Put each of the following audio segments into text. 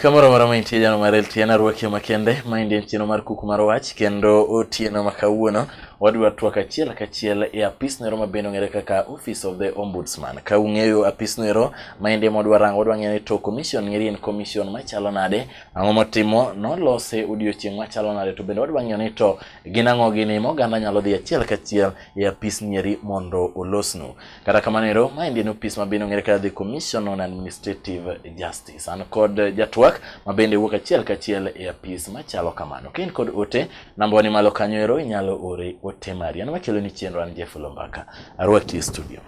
Kamoro moro mantie jano mar LTN arwaki makende maendi en chieno mar kuku mar wach kendo otieno ma kawuono wadwa twak achiel kachiel e apis noero ma bende ong'ere kaka Office of the Ombudsman. Ka ung'eyo apis noero maendi ema wadwa rango wadwa ng'eyo ni to commission ng'eri en commission machalo nade Ang'o motimo nolose odiochieng' machalo nade to bende wadwa ng'eyo ni to gin ang'o gini ma oganda nyalo dhi achiel kachiel e apis nieri mondo olosnu. Kata kamano ero ma endi en opis mabende ong'ere kaka the Commission on Administrative Justice. An kod jatwak mabende wuok achiel kachiel e apis machalo kamano. Ka in kod ote namba wani malo kanyo ero inyalo ore ote mari. An makelo ni chenro an Jeff Lombaka. Arwaki e studio.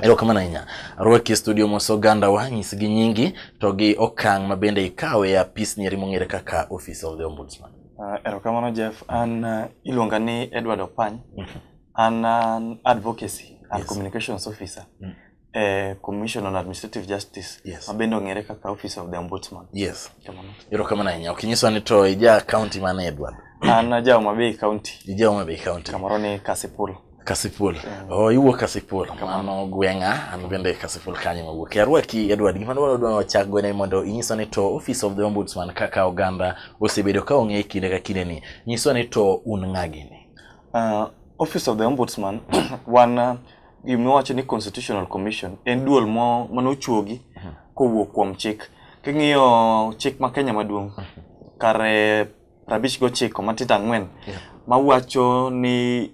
erokamano ahinya rwaki e studio mos oganda wa nyis gi nyingi to gi okang' ma bende ikawe e apis nieri mong'ere kaka office of the ombudsman uh, erokamano jeff an uh, iluonga ni edward opany mhm. an an advocacy and yes. communications officer mm. eh, commission on administrative justice yes. mabende ong'ere kaka office of the ombudsman yes erokamano ahinya ok inyiswa ni to ija county mane edward an aja Homa Bay County. Ija Homa Bay County. Kamoro ni Kasipul. Kasipul. Mm. Oh, iwuok Kasipul. Mano gweng'a, an bende Kasipul kanyo mawuok. Arwaki Edward, gima dwaro dwaro wachak go ne mondo inyiso ni to Office of the Ombudsman kaka oganda osebedo ka ong'e kinde ka kinde ni. Nyiso ni to un ng'a gini. Uh, Office of the Ombudsman wan uh, gimiwacho ni Constitutional Commission en duol mo mane ochuogi mm-hmm. kowuok kuom chik. King'iyo chik ma Kenya maduong' mm-hmm. kare prabich gochiko matindo ang'wen yeah. mawacho ni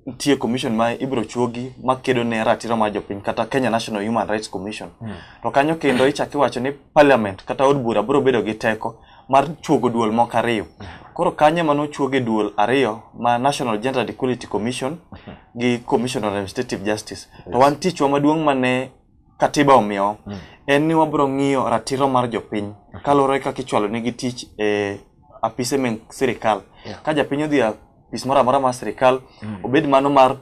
nitie commission ma ibiro chuogi makedo ne ratiro mar jopiny kata Kenya National Human Rights Commission. Mm. To kanyo kendo ichak iwacho ni parliament kata od bura biro bedo gi teko mar chuogo duol moko ariyo. Hmm. Koro kanyo ema nochuoge duol ariyo ma National Gender Equality Commission hmm. gi Commission on Administrative Justice. To wan tichwa maduong' mane katiba omiyo mm. en ni wabiro ng'iyo ratiro mar jopiny kaluwore kaka ichwalo negi tich e apise me sirikal yeah. ka japiny odhi apis moro amora mar sirikal mm. obed mano mar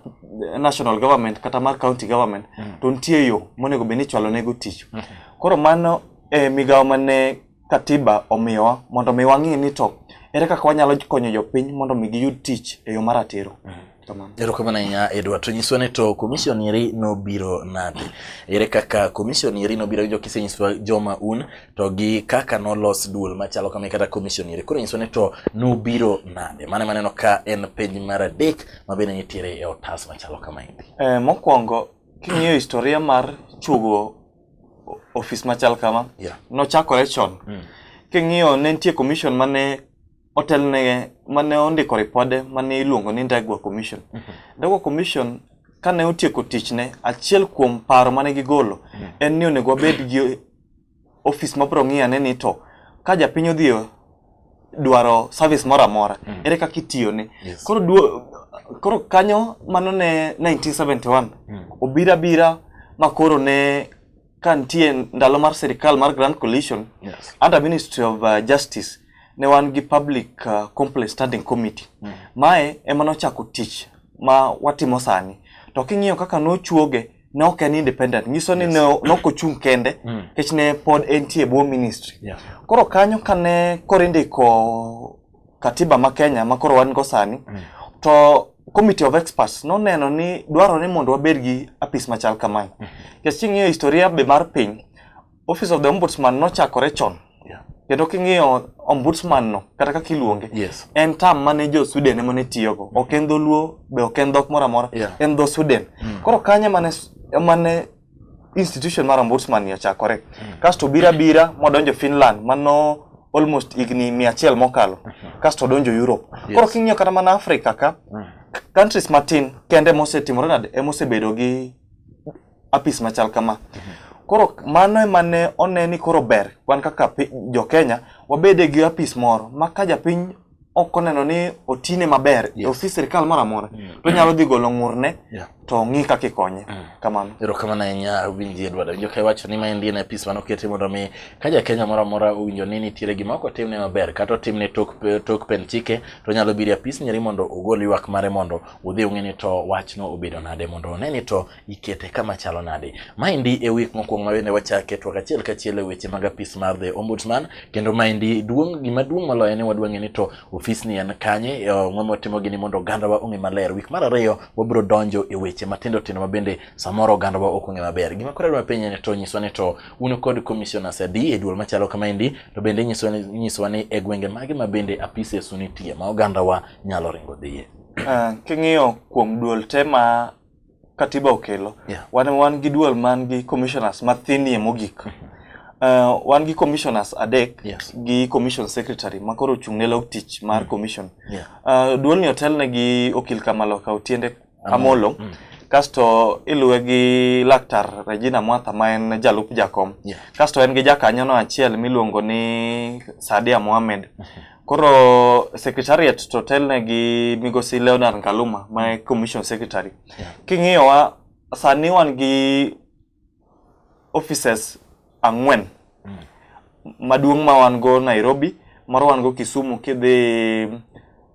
national government kata mar county government mm. to nitie yo monego bed ni ichwalo nego tich mm. koro mano e migawo mane Katiba omiyowa mondo mi wang'e ni to ere kaka wanyalo konyo jopiny mondo mi giyud tich e yo maratiro. Mm -hmm. Erokamano ahinya Edward. To nyiswa ni to commission eri nobiro nade? Ere kaka commission eri nobiro gi jokise nyiswa joma un to gi kaka nolos duol machalo kama kata commission eri. Koro nyiswa ni to nobiro nade? Mane maneno ka en penj mar adek ma bende nitiere e otas machalo kama endi. Eh, mokwongo king'iyo historia mar chugo ofis machal kama yeah. nochakore chon mm. king'iyo ne nitie commission mane otelne mane ondiko ripode mane iluongo ni Ndegwa commission mm -hmm. Ndegwa commission kane otieko tichne achiel kuom paro mane gigolo mm -hmm. en ni onego wabed gi ofis mabiro ng'iyo ane ni to ka japiny odhi dwaro service moro amora mm. ere kaka itiyone yes. koro duo, koro kanyo mano ne 1971 mm. obira bira ma koro ne ka nitie ndalo mar sirikal mar grand coalition yes. under ministry of uh, justice ne wan gi public uh, complaint standing committee mm. mae ema nochako tich ma watimo sani to king'iyo kaka nochuoge ne ok en independent nyiso ni yes. ne ok ochung' kende mm. nikech mm. ne pod entie e bwo ministry yeah. koro kanyo kane koro indiko katiba ma Kenya ma koro wan go sani mm. to committee of experts noneno ni dwarore ni mondo wabed gi apis machal kamae mm-hmm. nikech mm -hmm. king'iyo historia be mar piny Office of the Ombudsman nochakore chon. Yeah. Kendo king'iyo ombudsman no kata kaka iluonge yes. en tam mane jo Sweden emane tiyogo ok en dholuo be ok en dhok moro amora yeah. en dho Sweden mm. koro kanye mane mane institution mar ombudsman ni ochakore mm. kasto bira bira modonjo Finland mano almost higni mia achiel mokalo mm -hmm. kasto odonjo Europe yes. koro king'iyo kata mana Africa ka mm. countries matin kende mosetimore nade emosebedo gi apis machal kama. Koro mano ema ne one ni koro ber wan kaka jo Kenya wabede gi apis moro ma ka japiny ok oneno ni otine maber yes. ofis sirkal moro amora mm. to nyalo dhi golo ng'urne yeah. to ng'i kaka ikonye mm. kamano ero kamano ahinya winji edward winjo ka iwacho ni maendi en apis mane oketi mondo mi ka jakenya moro amora owinjo ni nitiere gima ok otimne maber kata otimne tok, tok pen chike to nyalo biro e apis nyeri mondo ogol ywak mare mondo udhi ung'e ni to wachno obedo nade mondo one ni to ikete kama chalo nade. Maendi e week mokwongo ma bende wachake twak achiel kachiel e weche mag apis mar the ombudsman kendo maendi duong' gima duong' moloyo ni wadwa ng'e ni to ofis ni en kanye e, ng'o motimo gini mondo ogandawa ong'e maler. Week mar ariyo wabiro donjo e weche matindo tindo ma bende samoro ogandawa ok ong'e maber. Gima koro adwa penye ni to nyiswa ni to un kod commissioners adi e duol machalo kamaendi to bende nyiswa ni, nyiswa ni e gwenge mage ma bende apises unitie ma ogandawa nyalo ringo dhiye. Ah, king'iyo kuom duol te ma katiba okelo yeah. wan, wan gi dual man gi commissioners mathinie mogik uh, wan gi commissioners adek yes. gi commission secretary ma koro ochung' ne log tich mar mm. commission yeah. uh, duolni otelne gi okil kamaloka otiende amolo mm. mm. kasto iluwe gi laktar regina mwatha ma en jalup jakom yeah. kasto en gi jakanyono achiel miluongo ni sadia mohamed mm -hmm. Koro secretariat to telne gi migosi Leonard Ngaluma ma e commission secretary. Yeah. King'iyowa sani wan gi offices ang'wen mm. maduong' ma wan go Nairobi, moro wan go Kisumu kidhi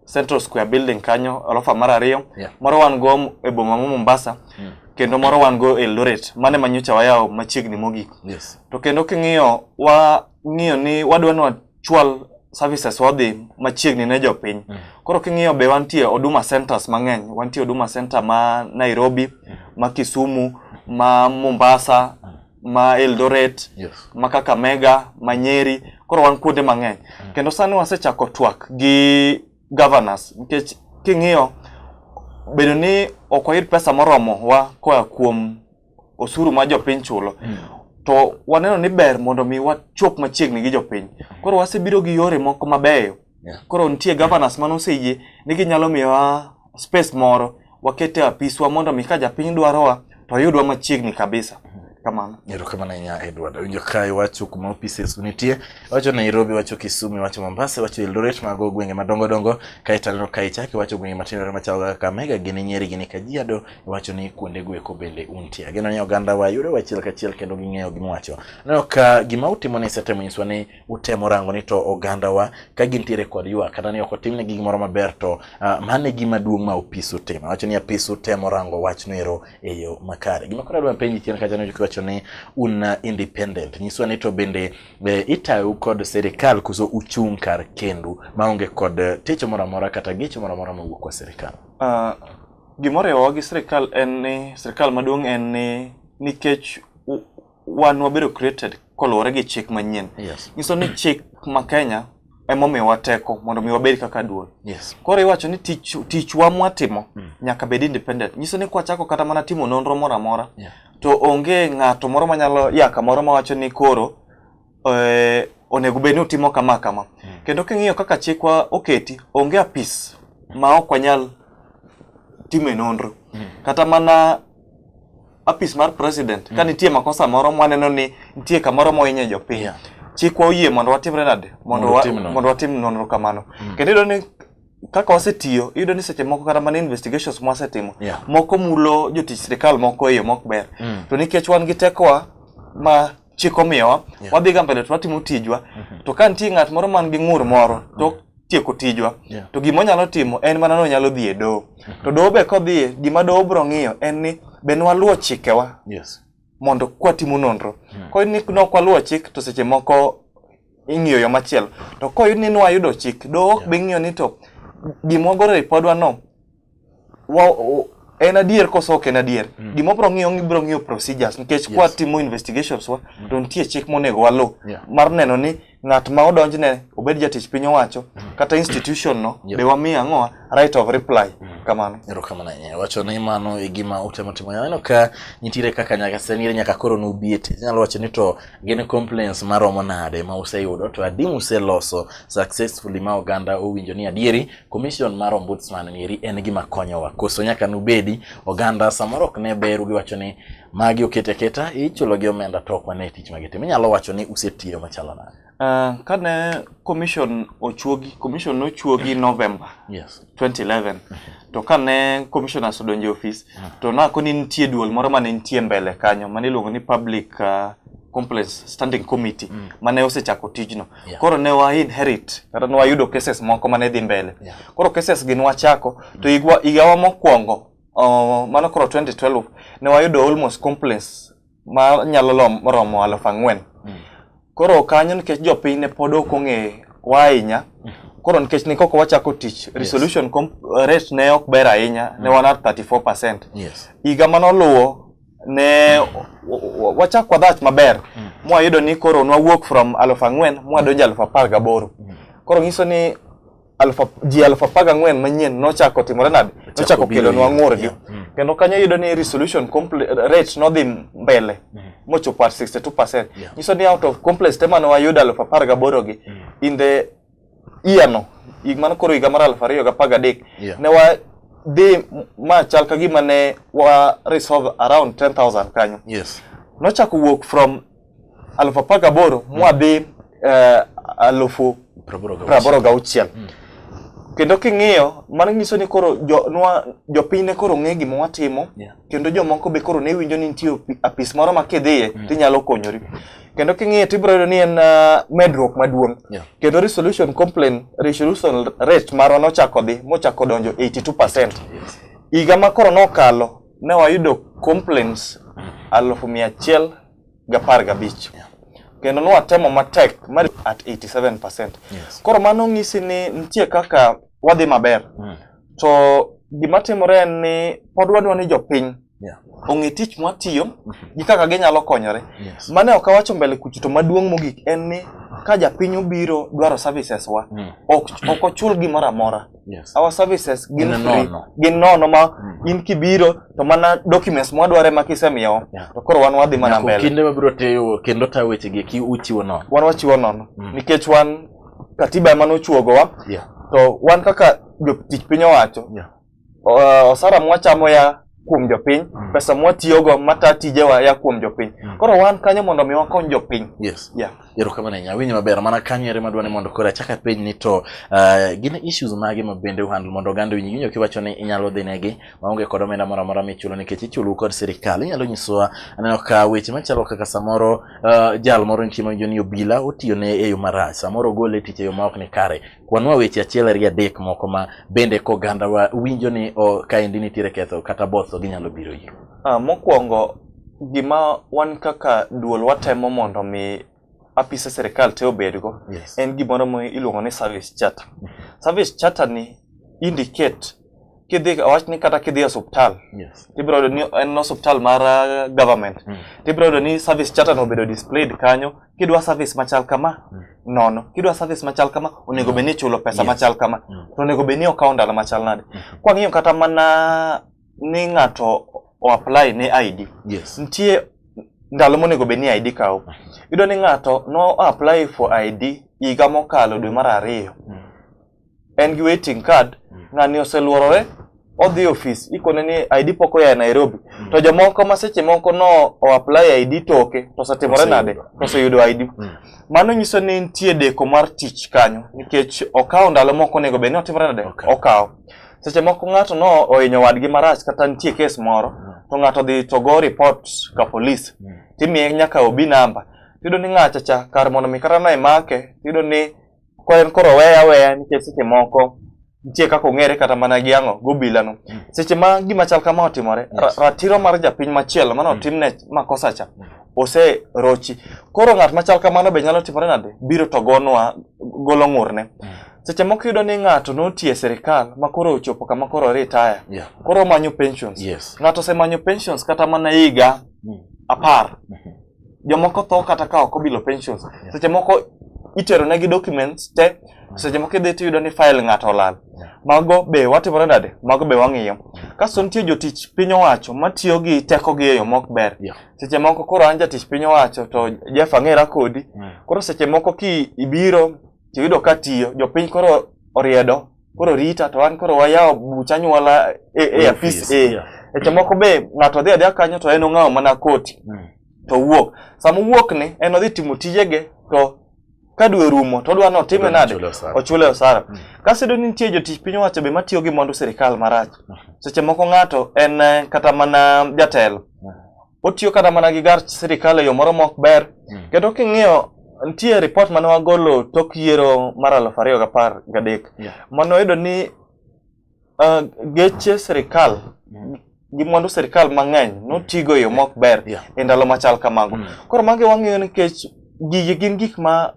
Central Square building kanyo orofa mar ariyo, yeah. moro wan go e boma ma Mombasa. Mm. kendo moro wan go Eldoret mane manyocha wayawo machiegni mogik. Yes. To kendo king'iyo wa ng'iyo ni wadwa chwal services wadhi machiegni ne jopiny. Mm. Koro king'iyo be wantie Huduma Centers mang'eny, wantie Huduma Center ma Nairobi, mm. ma Kisumu, ma Mombasa, mm. ma Eldoret, yes. ma Kakamega, ma Nyeri, koro wan kuonde mang'eny. Mm. Kendo sani wasechako twak gi governors nikech king'iyo bedo ni ok wayud pesa moromo wa koa kuom osuru ma jopiny chulo mm. to waneno ni ber mondo mi wachop machiegni gi jopiny koro wasebiro gi yore moko mabeyo yeah. koro nitie governors mane oseyie ni ginyalo miyowa space moro wakete apiswa mondo mi ka japiny dwarowa to oyudwa machiegni kabisa kamano erokamano ahinya edward awinjo ka iwacho kuma offices nitie iwacho nairobi iwacho kisumu iwacho mombasa iwacho eldoret mago gwenge madongo dongo kaeto aneno ka ichak iwacho gwenge matindo machalo kaka kakamega gini nyeri gini kajiado wacho ni kuonde gweko bende untie. Ageno ni oganda wa yudo wachiel kachiel kendo ging'eyo gima wacho. Aneno ka gima utimo ni setemo nyiswa ni utemo rango ni to oganda wa ka gintiere kod ywa kata ni ok otimne gi gimoro maber to uh, mane gima duong' ma opis utimo. Wacho ni apis utemo rango wach noero e yo makare. Gima koro adwa penji chien kacha ni wacho ni un uh, independent. Nyiswa ni to bende be itayu kod serikal kuso uchung' kar kendu maonge kod uh, techo moro amora kata gecho moro amora mawuok kwa serikal. Uh, Gimoriwowa gi sirkal en ni sirkal maduong' en ni nikech wan wabedo created koluwore gi chik manyien. Yes. Nyiso ni chik ma Kenya emomiyowa teko mondo mi wabed kaka duol. Yes. Koro iwacho ni tich tichwa mwatimo mm. nyaka bed independent. Nyiso ni kwachako kata mana timo nonro moro amora yeah. to onge ng'ato moro manyalo yaka moro mawacho ni koro eh, onego bed ni utimo kama kama. Hmm. Kendo king'iyo kaka chikwa oketi, onge apis ma ok wanyal time nonro. Hmm. Kata mana apis mar president, ka hmm. nitie makosa moro mwaneno ni nitie kamoro mohinyo jopiny. Yeah. Chikwa oyie mondo watimre nade? Mondo watim nonro kamano. Kendo iyudo ni kaka wasetiyo iyudo ni seche moko kata mana investigations ma wasetimo yeah. moko mulo jotich sirikal moko e yo mok ber mm. to nikech wan gi tekowa ma chik omiyowa yeah. wadhi ga mbele to watimo tijwa mm -hmm. to ka nitie ng'at moro man gi ng'ur moro to mm -hmm tieko tijwa yeah. to gima onyalo timo en mana ni onyalo dhi e doho mhm. to doho be kodhiye gima doho biro ng'iyo en ni be nwaluwo chikewa yes. mondo kwatimo nonro yeah. Hmm. koyud ni nok waluwo chik to seche moko ing'iyo yo machielo to koyud ni nwayudo chik doho ok yeah. be ng'iyo ni to gima wagoro e ripodwa no wa, o, en adier koso ok en adier mm. gima obro ng'iyo ibro ng'iyo procedures nikech yes. kwatimo investigations wa mm. to nitie chik monego waluw yeah. mar neno ni ng'at ma odonjne obed jatich piny owacho mm. kata institution no yep. be wamiyo ang'owa right of reply mm. kamano erokamano ahinya wacho ni mano e gima utemo timo aneno ka nitiere kaka nyaka senire nyaka koro nubiet inyalo wacho ni to gin complaints maromo nade ma useyudo to adi museloso successfully ma oganda owinjo ni adieri Commission mar Ombudsman nieri en gima konyowa. Koso nyaka nubedi oganda samoro ok ne beru giwacho ni magi oket aketa ichulo gi omenda to ok wane tich magitimo. Inyalo wacho ni usetiyo machalo nade? Uh, kane commission ochuogi commission nochuogi November yes. 2011 to kane commissioners odonjo office mm. to nako ni nitie duol moro mane nitie mbele kanyo mane iluongo ni public uh, complaints standing committee mm. mane osechako tijno Yeah. Koro ne wa inherit kata ne wayudo cases moko mane dhi mbele. Yeah. Koro cases gi nwachako to igwa igawa mokwongo uh, mano koro 2012 ne wayudo almost complaints ma nyalo lom- romo aluf ang'wen. Koro kanyo nikech jopiny ne pod ok ong'e wa ahinya koro nikech ne koko wachako tich resolution com- rate ne ok ber ahinya ne wan at 34%. Yes. Higa manoluwo ne wachak kwa dhach maber mm. mwayudo ni koro nwawuok from aluf ang'wen mwadonjo aluf apar gaboro mm. koro ng'iso ni ji aluf apar gang'wen manyien nochako timore nade nochako kelonwa ng'urgi mm. kendo kanyo yudo ni resolution rate nodhi mbele mm. mochopo at 62 percent nyiso ni out of complex te mane wayudo aluf apar gaborogi in the iyano hig mano koro higa mar aluf ariyo gi apar gadek yeah. ne wadhi ma chal ka gima ne wa resolve around 10000 kanyo yes. nochako wuok from aluf apar gaboro mm. mwadhi uh, eh, alufu praboro gauchiel mm. kendo king'iyo mano nyiso ni koro jopiny jo ne koro ng'e gima watimo yeah. kendo jomoko be koro ne winjo ni nitie apis moro ma kidhiye mm. tinyalo konyori kendo king'iye tibiro yudo ni en uh, medruok maduong' yeah. kendo resolution complaint resolution rate marwa nochako dhi mochako donjo 82 higa ma koro nokalo ne wayudo complaints alufu mia achiel gapar gabich yeah. kendo nwatemo matek at 87 percent yes. koro mano ng'isi ni nitie kaka wadhi maber mm. to gima timore en ni pod wadwa ni jopiny Yeah. Ong'e tich mwatiyo mm-hmm. gi kaka ginyalo konyore. Yes. Mane ok awacho mbele kucho to maduong' mogik en ni ka japiny obiro dwaro services wa mm. ok ok ochul gimoro amora. Yes. Our services gin free, gin nono ma mm. in kibiro to mana documents mwa dware ma kisemiyo yeah. to koro wan wadhi mana mbele. Kinde mabiro teyo kendo ta weche gi ki uchiwo nono. Wan wachiwo nono mm. nikech wan katiba ema nochuogowa. Yeah. To wan kaka jotich piny owacho yeah. osara mwachamo ya kuom jopiny mm. pesa mwatiyogo mata tijewa ya kuom jopiny mm. koro wan kanyo mondo mi wakony jopiny yes. yeah. erokamano ahinya awinjo maber mana kanyo ere madwa ni mondo koro achak apenj ni to uh, gin issues mage ma bende uhandle mondo oganda winji winjo kiwacho ni inyalo dhi negi maonge kod omenda moro amora michulo nikech ichulu kod sirikal inyalo nyisowa aneno ka weche machalo kaka samoro uh, jal moro nitie mawinjo ni obila otiyo ne e yo marach samoro ogole tich e yo maok ni kare Kwanwa weche achiel ariyo adek moko ma bende kogandawa winjo ni o, kaendi nitiere ketho kata both to ginyalo biro iro. Ah, mokwongo gima wan kaka duol watemo mondo mi apise sirikal te obedgo Yes. en gimoro ma iluongo ni service charter. Service charter ni indicate kidhi awach ni kata kidhi e osuptal yes. ibiro yudo ni en osuptal mar uh, government mm. tibiro yudo ni service charter no obedo displayed kanyo kidwa service machal kama mm. nono kidwa service machal kama onego bed ni ichulo pesa yes. machal kama mm. to onego bed ni okawo ndalo machal nade mm. kwang'iyo kata mana ni ng'ato o apply ne ID yes. nitie ndalo monego bed ni ID kawo mm. yudo ni ng'ato no apply for ID higa mokalo dwe mar ariyo mm. en gi waiting card mm. ng'ani oseluorore odhi e ofis ikone ni ID pok oya e Nairobi mm. to jomoko ma seche moko no o apply ID toke to osetimore nade to oseyudo ID mm. mano nyiso ni nitie deko mar tich kanyo nikech okawo ndalo moko onego bed ni otimore nade okay. okawo seche moko ng'ato no ohinyo wadgi marach kata nitie kes moro mm. to ng'ato dhi to go report ka police mm. timiye nyaka obi namba tiyudo ni ng'acha cha kar mondo mi kata no imake tiyudo ni Kwa en koro weya weya nikech seche moko nitie kaka ong'ere kata mana gi ang'o gobila no mm. seche ma gima chal kama otimore yes. ratiro mar japiny machielo mane mm. otimne makosa cha mm. ose rochi koro ng'at machal kamano be nyalo timore nade biro to gonwa golo ng'urne mm. seche moko yudo ni ng'ato notiye sirikal ma koro ochopo kama koro retire yeah. koro omanyo pensions yes. ng'ato osemanyo pensions kata mana higa mm. apar mm -hmm. jomoko tho kata ka ok obilo pensions yeah. seche moko itero negi documents te mm. seche moko idhi tiyudo ni file ng'ato olal mago be watimore nade mago be wang'iyo kasto nitie jotich piny owacho matiyo gi tekogi e yo mok ber seche moko koro an jatich piny owacho to Jeff ang'era kodi mm. koro seche moko ki ibiro tiyudo ka tiyo jopiny koro oriedo koro rita to an koro wayawo buch anyuola e, e apis e yeah. eche moko be ng'ato dhi adhiya kanyo to en ong'awo mana koti mm. to wuok sama wuok ni en odhi timo tijege to ka dwe rumo to odwa ni otime nade ochule osara mm. kasedo ni nitie jotich piny owacho be matiyo gi mwandu sirikal marach mm. seche moko ng'ato en eh, kata mana jatelo mm. otiyo kata mana gi gar sirikal e yo moro mok ber hmm. kendo king'iyo nitie ripot mane wagolo tok yiero mar aluf ariyo gapar gadek mane wayudo ni uh, geche sirikal hmm. gi mwandu sirikal mang'eny notigo e yo mok ber e ndalo machal kamago hmm. koro magi wang'iyo nikech gigi gin gik ma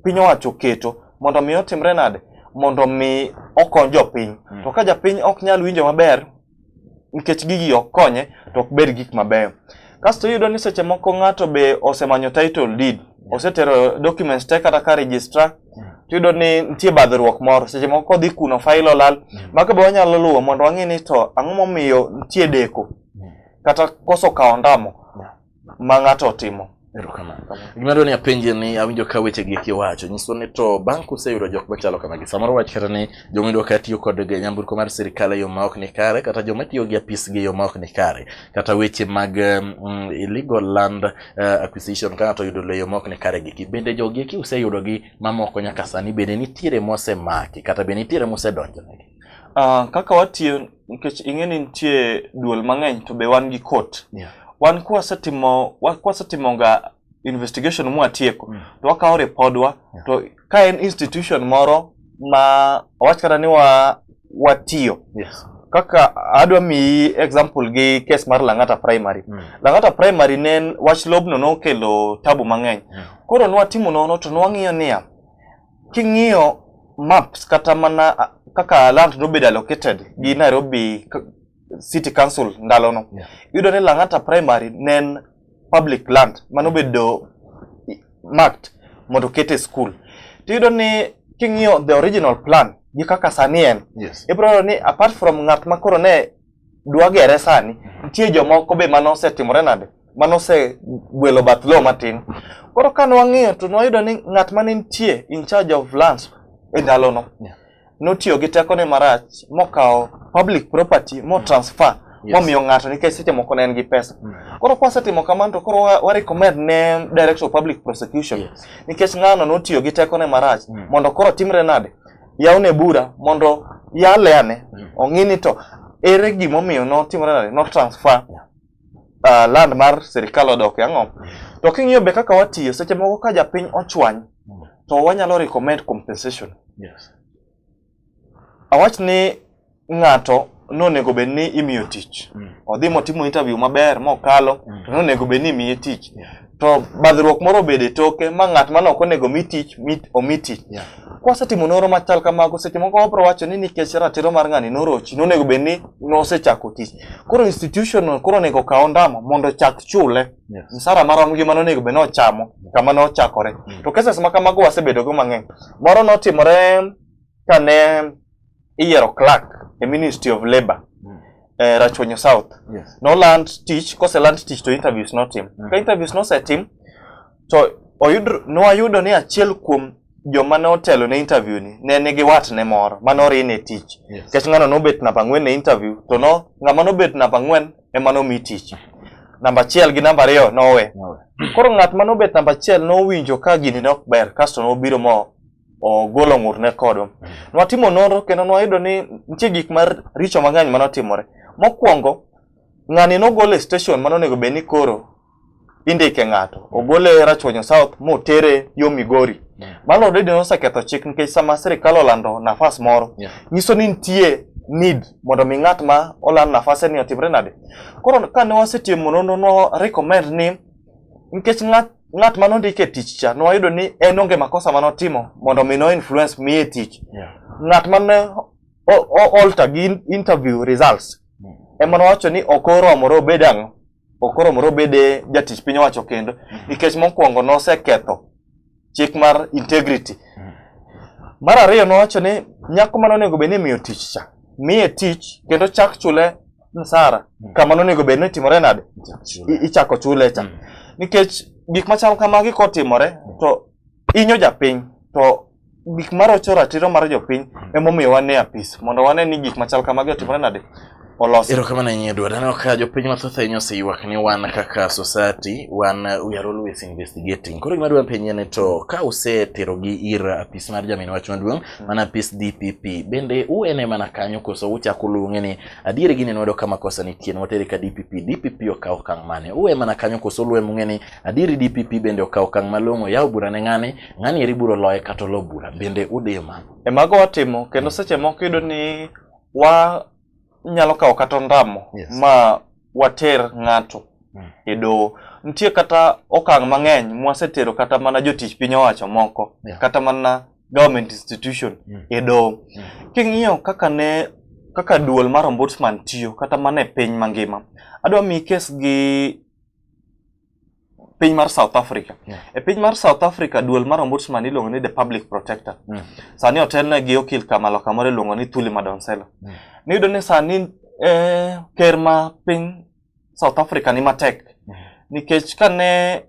piny owacho keto mondo mi otimre nade mondo mi okony jopiny mm. to ka japiny ok nyal winjo maber nikech gigi ok konye to ok bed gik mabeyo kasto iyudo ni seche moko ng'ato be osemanyo title deed mm. osetero documents te kata ka registrar mm. tiyudo ni nitie badhruok moro seche moko kodhi kuno fail olal mm. mago be wanyalo luwo mondo wang'e ni to ang'o momiyo nitie deko kata koso kawo ondamo ma ng'ato otimo. Erokamano. Gima dwani apenje ni awinjo ka weche gi kiwacho nyiso ni to bang' kuseyudo jok machalo kamagi samoro wach kata ni joma iyudo ka tiyo kod nyamburko mar sirikal e yo maok ni kare kata joma tiyo gi apis gi e yo maok ni kare kata weche mag um, illegal land uh, acquisition ka ng'ato oyudo lo e yo maok ni kare giki bende jogi eki useyudo gi mamoko nyaka sani bende nitiere mosemaki kata bende nitiere mosedonjonegi. Uh, kaka watiyo nikech ing'e ni nitie duol mang'eny to be wan gi court yeah. wan kwasetimo kwasetimonga investigation mwatieko mm. to wakawo ripodwa yeah. to ka en institution moro ma wach kata ni wa watiyo yes. kaka adwa miyi example gi case mar Lang'ata primary mm. Lang'ata primary ne wach lobno nokelo tabu mang'eny mm. koro nwatimo nono to nwang'iyo niya King'iyo maps kata mana kaka land nobedo allocated gi Nairobi City Council ndalono, yeah. yudo ni Lang'ata Primary ne en public land manobedo marked mondo okete school. Tiyudo ni king'iyo the original plan gi kaka sani en, yes. ibro ni apart from ng'at ma koro ne dwagere sani nitie jomoko be mane osetimore nade mane osegwelo bath lowo matin koro kane wang'iyo to nwayudo ni ng'at mane nitie in charge of lands e ndalono notiyo gi tekone marach mokawo public property motransfer Yes. momiyo ng'ato nikech seche moko ne en gi pesa koro kwasetimo kamano to koro wa- warecommend ne director of public prosecution Yes. nikech ng'ano notiyo gi tekone marach Mm. mondo koro timre nade yawne bura mondo yale ane mm. ong'i ni to ere gimomiyo notimore nade no transfer uh, land mar sirikal odok ang'o mm. to king'iyo be kaka watiyo seche moko ka japiny ochwany mm. to wanyalo recommend compensation yes. awach ni ng'ato nonego bed ni imiyo tich mm. odhi motimo interview maber mokalo mm. to nonego bed ni imiye tich yeah. to badhruok moro obed e toke ma ng'at mane ok onego mi tich omi tich yeah. kwasetimo noro machal kamago seche moko wabro wacho ni nikech ratiro mar ng'ani norochi nonego bed ni nosechako tich koro institution koro onego kaw ndamo mondo ochak chule yes. msara marom gi mano onego bed ni ochamo kama ne ochakore mm. to cases ma kamago wasebedogo mang'eny moro notimore kane iyiero clerk e Ministry of Labour mm. eh, Rachuonyo South yes. no land tich kose land tich to interviews notim mm. ka interviews nosetim to oyud nwayudo ni achiel kuom joma ne otelo ne interview ni ne nigi watne moro ma norine e tich nikech yes. ng'ano nobet namba ang'wen ne interview to no ng'ama nobet namba ang'wen ema nomi tich namba achiel gi namba ariyo nowe koro ng'at ma nobet namba achiel nowinjo ka gini ne ok ber kasto nobiro mo ogolo ng'urne kodwa. Mm. Nwatimo nonro kendo nwayudo ni nitie gik mar richo mang'eny mane otimore. Mokwongo, ng'ani nogol e station mane onego bed ni koro indike ng'ato. Ogol e Rachuonyo South motere yo Migori. Mm. Mano already noseketho chik nikech sama sirikal olando nafas moro, yeah. nyiso ni nitie need mondo mi ng'at ma oland nafase ni otimre nade. Koro kane wasetimo nonro no recommend ni Nikech ng'at ng'at ma nondike e tich cha nwayudo ni en onge makosa ma notimo mondo mi no influence miye tich. Yeah. Ng'at ma ne alter gi interview results mm. ema nowacho ni ok oromore obed ang'o ok oromore obed jatich piny owacho kendo mm. nikech mokwongo noseketho chik mar integrity. Mm. Mar ariyo nowacho ni nyako mane onego bed ni imiyo tich cha, miye tich kendo chak chule msara mm. kama nonego bed ni timore nade, ichako chule cha mm. nikech gik machal kamagi kotimore to inyo japiny to gik marocho ratiro mar jopiny emomiyo wane apis mondo wane ni gik machal kamagi otimore nade olosi. Erokamano ahinya Edward. Aneno ka jopiny mathoth ahinya oseywak ni wan kaka society wan uh, we are always investigating. Koro gima dwa penye ni to ka useterogi ir apis mar jamin wach maduong' mm. mana apis DPP bende uene mana kanyo koso uchako luonge ni adier gini nwedo kama kosa nitie nwatere ka DPP DPP okawo okang' mane uwe mana kanyo koso luwe mung'e ni adieri DPP bende okawo okang' malong'o yawo bura ne ng'ani ng'ani eri buro loye kata olo bura bende udiyo mano. E mago watimo kendo mm. seche moko iyudo ni wa inyalo kawo kata ondamo yes. ma water ng'ato mm. e doho nitie kata okang' mang'eny mwasetero kata mana jotich piny owacho moko yeah. kata mana government institution mm. e doho mm. king'iyo kaka ne kaka duol mar ombudsman tiyo kata mana e piny mangima adwa mi kes gi piny mar South Africa. Yeah. E piny mar South Africa duol mar ombudsman iluongo ni the public protector. Mm. Sani otelne gi okil Kamalo kamoro iluongo ni Thuli Madonsela. Mm. Niyudo ni sani eh, ker ma piny South Africa ni matek mm. nikech kane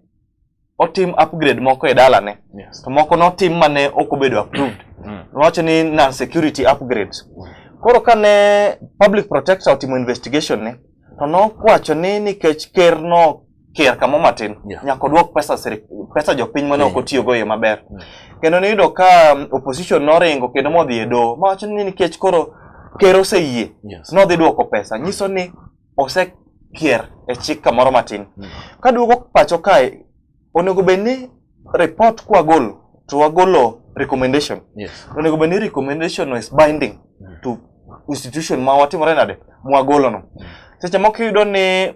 otim upgrade moko e dalane yes. to moko notim mane ok obedo approved. Mm. Nowacho ni non security upgrades. Mm. Koro kane public protector otimo investigation ne to nokwacho ni nikech ker no ker kamo matin yeah. nyaka odwok pesa sirik, pesa jopiny mane ok otiyogo e yo maber mm. kendo niyudo ka um, opposition noringo kendo modhi e doho mawacho ni nikech koro ker oseyie yes. nodhi dwoko pesa nyiso ni osekier e chik kamoro matin mm. kaduogo pacho kae Onego bed ni report kwa golo to wagolo recommendation. Yes. Onego bed ni recommendation is binding mm. to institution ma watimore nade mwagolo no. Mm. Seche moko iyudo ni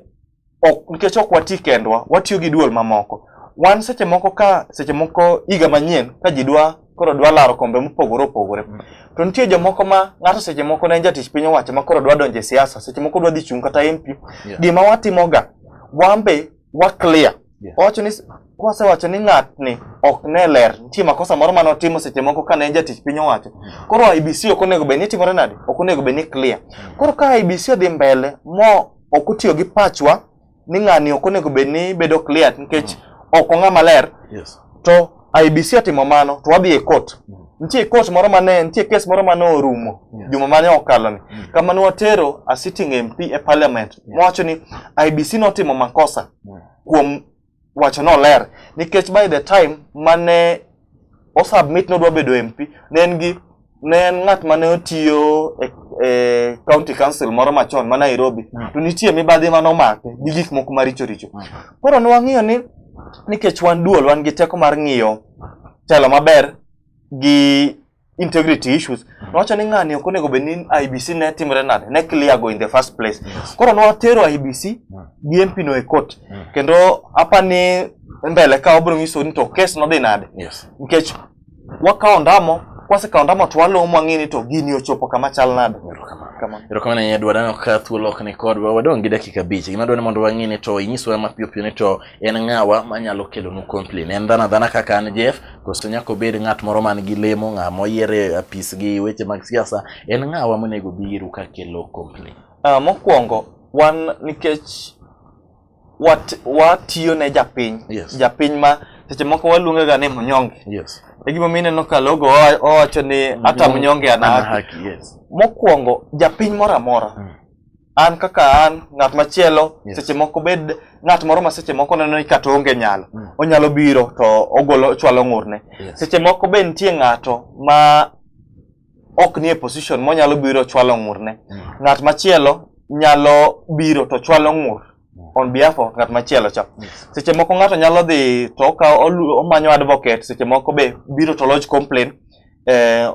ok nikech ok wati kendwa, watiyo gi duol mamoko. Wan seche moko ka seche moko higa manyien ka ji dwa koro dwa laro kombe mopogore opogore. Mm. To nitie jomoko ma ng'ato seche moko ne en jatich piny owacho ma koro dwa donjo e siasa, seche moko dwa dhi chung' kata MP. Yeah. Gima watimoga, wan be wa clear Yeah. owacho ni kwasewacho ni ng'atni ok ne ler nitie makosa moro mane otimo seche moko kane en jatich piny owacho koro IBC ok onego bed ni timore nade ok onego bed ni clear koro ka IBC odhi mbele mo ok otiyo gi pachwa ni ng'ani ok onego bed ni bedo clear nikech ok ong'a maler Yes. to IBC otimo mano to wadhi e court. Mm. Nitie court moro mane, nitie case moro mane orumo yes. juma mane okalo ni. Mm. Kama ne watero a sitting MP e parliament yes. wacho ni IBC notimo makosa mm. kuom wacho no ler nikech by the time mane o submit nodwa bedo MP ne en gi ne en ng'at mane otiyo e, e county council moro machon ma Nairobi mm. to nitie mibadhi mane omake gi gik moko maricho richo mm. koro ne wang'iyo ni nikech wan duol wan gi teko mar ng'iyo telo maber gi integrity issues mm. nowacho ni ng'ani ok onego bed ni IBC ne timre nade ne clear go in the first place yes. koro nwatero IBC mm. gi MP no e court mm. kendo apa ni mbele ka wabiro nyiso ni to kes nodhi nade yes. nikech wakawo ondamo kwasekawo ondamo to walowo mwang'e ni to gini ochopo kama chal nade erokamano ahinya dwa dano ka thuolo ok ni kodwa wadong' gi dakika abich gima dwa ni mondo wang'e ni to inyiswa mapiyopiyo ni to en ng'awa manyalo kelonu complain en dhano adhana kaka an jeff koso nyaka obed ng'at moro man gi lemo ng'a moyier e apis gi weche mag siasa en ng'awa monego biru ka kelo complain uh, mokwongo wan nikech wat- watiyo ne japiny Yes. japiny ma seche moko waluonge ga ni mnyonge Yes. e gimomiyo ineno ka logo owa- owacho ni hata mnyonge ana Ana haki haki, yes. mokwongo japiny moro amora Mm. an kaka an ng'at machielo Yes. seche moko bed ng'at moro ma seche moko neno ni kata onge nyalo Mm. onyalo biro to ogolo chwalo ng'urne Yes. seche moko be nitie ng'ato ma ok nie position monyalo biro chwalo ng'urne. Mm. Ng'at machielo nyalo biro to chwalo ng'ur mm. on behalf of ng'at machielo cha. Yes. Seche moko ng'ato nyalo dhi to okawo omanyo advocate, seche moko be biro to lodge complaint eh,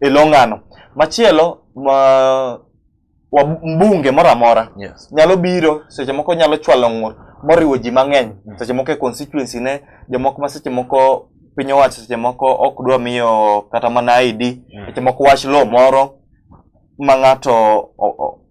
e lo ng'ano. Machielo ma wa mbunge moro amora yes. nyalo biro seche moko nyalo chwalo ng'ur moriwo ji mang'eny mm. seche moko e constituency ne jomoko ma seche moko piny owacho seche moko ok dwa miyo kata mana ID mm. seche moko wach law moro ma ng'ato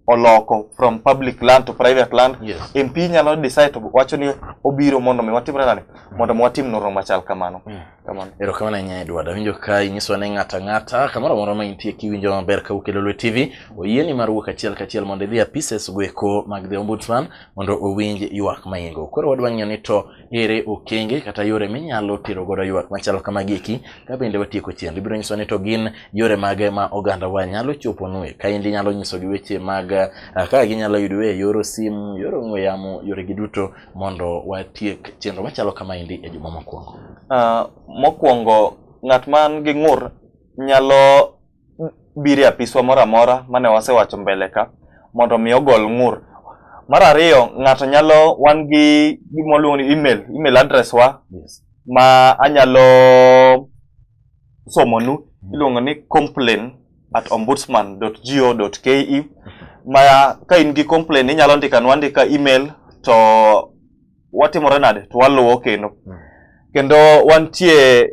oloko from public land to private land yes. MP nyalo decide to wacho ni obiro mondo mi watimre nani mm. mondo mi watim noro machal kamano mm. Kamano. Erokamano ahinya Edward. Awinjo ka inyisowa ni ng'ata ng'ata kamoro amora ma intie kiwinjo maber ka wuok e Lolwe TV, oyieni mar wuok achiel kachiel mondo idhi e apises goeko mag The Ombudsman mondo owinj ywak ma in-go. Koro wadwa ng'iyo ni to ere okenge kata yore minyalo tero godo ywak machalo kamagi eki ka bende watieko chenro. Ibiro nyisowa ni to gin yore mage ma ogandawa nyalo choponue. Kaendi inyalo nyisogi weche mag ah, kaka ginyalo yudue e yor simu, yor ong'we yamo, yoregi duto mondo watiek chenro machalo kamaendi e juma mokwongo? Uh, mokwongo ng'at man gi ng'ur nyalo biro e apiswa moro amora mane wasewacho mbele ka mondo mi ogol ng'ur. Mar ariyo, ng'ato nyalo wan gi gima waluongo ni email, email address wa yes. ma anyalo somonu iluongo ni complain at ombudsman.go.ke ma ka in gi complain inyalo ndika nwa ndika email to watimore nade to waluwo kendo mm. kendo wantie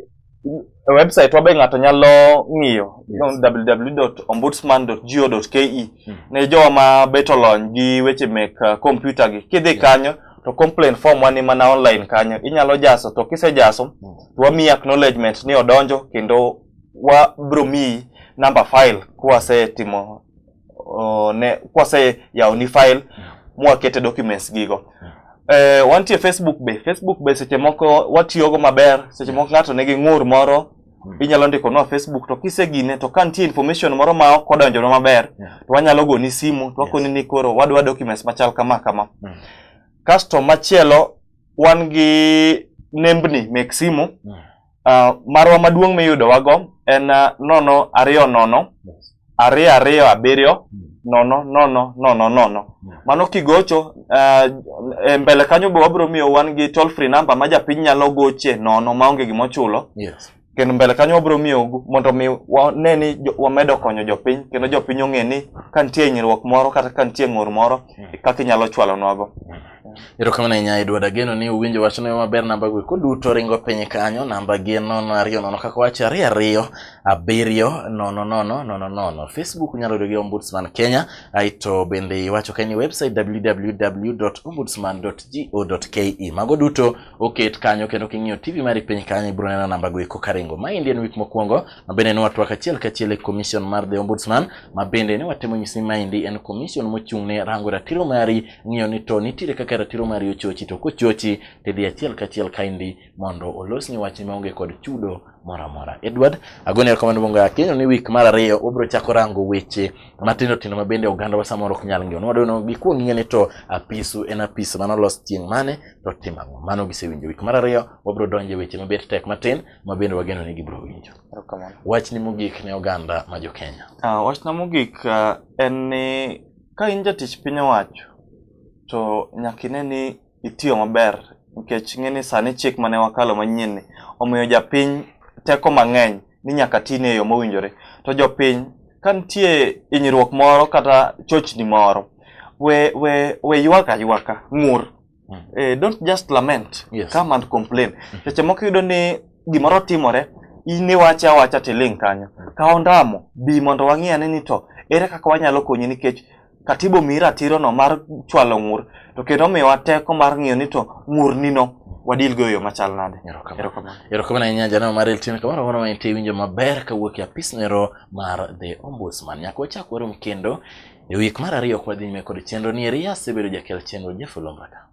e website wabe ng'ato nyalo ng'iyo yes. www.ombudsman.go.ke mm. ne jowa ma beto lony gi weche mek uh, kompyuta gi kidhi yeah. kanyo to complain form wani mana online kanyo inyalo jaso to kisejaso mm. to wamiyi acknowledgement ni odonjo kendo wa bro mi number file kwase timo uh, ne kwase yawo ni file mm. mwakete documents gigo mm. eh, wantie Facebook be Facebook be seche moko watiyogo maber seche moko ng'ato nigi ng'ur moro mm. inyalo ndiko nwa Facebook to kisegine to ka nitie information moro ma ok odonjona maber yeah. to wanyalo goni simu to wakoni yes. ni koro wadwa documents machal kama kama mm. kasto machielo wan gi nembni mek simu mm. uh, marwa maduong' miyudowago en uh, nono ariyo nono ariyo ariyo abiriyo nono nono nono nono mano kigocho uh, e mbele kanyo be wabiro miyo wan gi toll free number ma japiny nyalo goche nono maonge gima ochulo yes. kendo mbele kanyo wabiro miyo mondo mi wane ni wamedo konyo jopiny kendo jopiny ong'e ni ka nitie hinyruok moro kata ka nitie ng'ur moro mm. kaka inyalo chwalonwago mm. Erokamano ahinya Edward Ageno ni uwinjo wachno yo maber namba go eko duto ringo piny kanyo namba gi nono ariyo nono kaka wacho ariyo ariyo abiriyo nono nono nono nono Facebook nyalo yudo gi Ombudsman Kenya aito bende iwacho ka ni website www.ombudsman.go.ke mago duto oket kanyo kendo king'iyo TV mari piny kanyo ibiro neno namba go eko karingo. Ma endi en wik mokwongo ma bende ne watwak achiel kachiel e Commission mar The Ombudsman ma bende ne watemo nyisi ma endi en commission mochung' ne rango ratiro mari ng'iyo ni to nitiere kaka ratiro mari ochochi to kochochi to idhi achiel kachiel kaindi mondo olosni wachni maonge kod chudo moro amora edward agoni erokamano bongo akenyo ni wik mar ariyo wabiro chako rango weche matindo tindo mabende ogandawa samoro ok nyal ng'eyo nwadono gikwong ng'e ni to apisu en apis mane olos chieng' mane to tim ang'o mano gisewinjo wik mar ariyo wabiro donjo e weche mabet tek matin mabende wageno ni gibiro winjo wachni mogik ne oganda ma jo kenya uh, wachna mogik uh, en ni Ka in jatich piny owacho to nyaka ine ni itiyo maber nikech ing'e ni sani chik mane wakalo manyien ni omiyo japiny teko mang'eny ni nyaka tine e yo mowinjore. To jopiny ka nitie hinyruok moro kata chochni moro we we we ywak aywaka ng'ur. mm. eh, don't just lament yes. come and complain mm. seche moko iyudo ni gimoro timore in iwache awacha tiling' kanyo mm. ka ondamo bi mondo wang'i ane ni to ere kaka wanyalo konyi nikech katibo miyi ratirono mar chwalo ng'ur to kendo omiyowa teko mar ng'iyo ni to ng'urnino wadil go yo machal nade erokamano ahinya janeno mar eltin kamano mondo ma intie winjo maber kawuok e apisnero mar the ombudsman nyaka wachak warom kendo E wik mar ariyo kwa dhi nyime kod chenro ni eri asebedo jakel chenro Jeff Lombaka.